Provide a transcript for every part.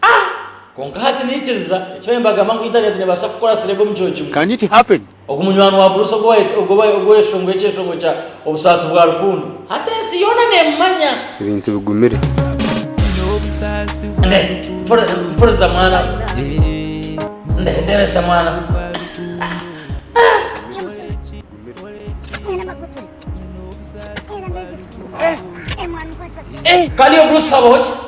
Ah! Kwonka hati naikiriza eki baabaire nibagamba ngu Intaneeti neebaasa kukora serebu omu kiro kimwe. Can it happen? Ogu munywani wa Bruce ogwo ow'ekishongwe eky'ekishongwe kya Obusaasi bwa Rukundo. Hati ensi yoona neemumanya! Ebintu bigumire. Mpuriza mwana. Ndebesa mwana. Kandi Bruce habaho ki?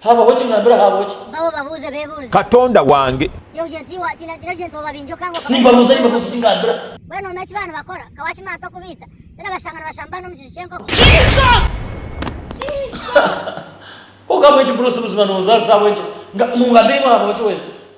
Haabaho ki? Naambire haabaho ki? Mpaho babuuze beebuurize. Katonda wange. Yoh ja ji wa tina tina jente oba bingi okanga okaba Nimbabuuza nimbabuuza ki ngaambira. Mbwenu omu eki baanibakora, ka waakima ata okubaita? Ti nabashanga nibashamba n'omu kiju ky'enkoko? Jesus! Jesus! Konka ahabw'enki Bruce buzima nooza nsi ahabw'enki? Nga, mungambire imwe haabaho ki weeza?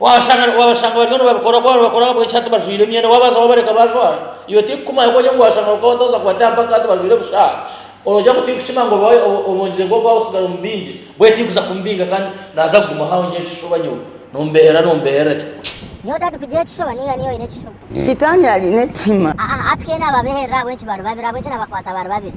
Waabashanga waabashanga bariyo nibabikora kwabo nibakora ahabw'enki hati bajwaire emyenda waabaza wabareka baajwara iwe tiikukumanya ku ori ngu waashanga bakaba batooza kubataha mpaka hati bajwaire busha oroogira ngu tiikukima ngu oba obongire nk'oku waabasigaza omu bingi mbwenu tiikuza kumubinga kandi naaza kuguma hao ngira ekishuba nyowe nombeerera nombeerera ki. Nyowe otari kugira ekishuba niga niiwe oine ekishuba. Sitaani aine ekihima. Aa, aa, aa, twena babeherera ahabw'enki bari babiri, ahabw'enki nabakwata bari babiri?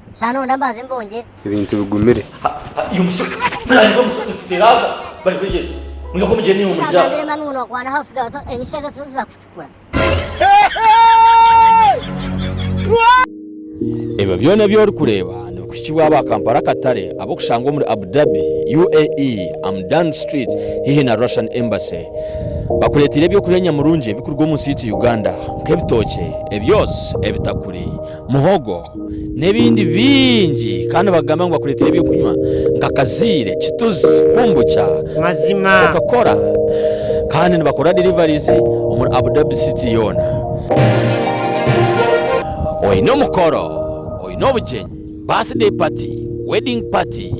Sha noyenda mbanze mbongyere? Ebintu bigumire. Ha, ha, iyo mushozi. Buriya niyo mushozi tuteraaza bari kwegyereza. Mwihaho mugyere naiwe murye aho. Nkagambire manu ngu nokwana house girl to enyishu ezo tizikuza kukucukura. Ebyo byona ebi orikureeba nibikuhikibwa aba Kampala Katare ab'okushangwa omuri Abu Dhabi, UAE, Amdan Street haihi na Russian Embassy. Bakureeteire eby'okurya nyamurungi ebikuruga omu nsi yaitu Uganda, nk'ebitookye, ebyozi, ebitakuri, muhogo n'ebindi bingi kandi bakugambira ngu bakureetere eby'okunywa nka kaziire, kituzi, kumbukya, Mazima. Coca-Cola kandi nibakora deliveries omuri Abu Dhabi City yoona. Oine omukoro, oine obugyenyi, birthday party, wedding party,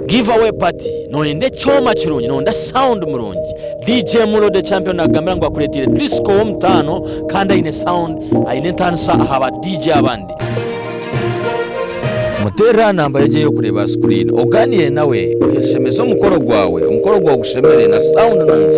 Giveaway party noyenda ekyoma kirungi noyenda sound murungi DJ Mulo the champion nakugambira ngu akureteire disco womutaano kandi aine sound aine entanisa aha ba DJ abandi. Muteerere aha namba yegyo ey'okureeba aha screen ogaaniire nawe oyeshemeze omukoro gwawe omukoro gwawe gushemere na sound nungi.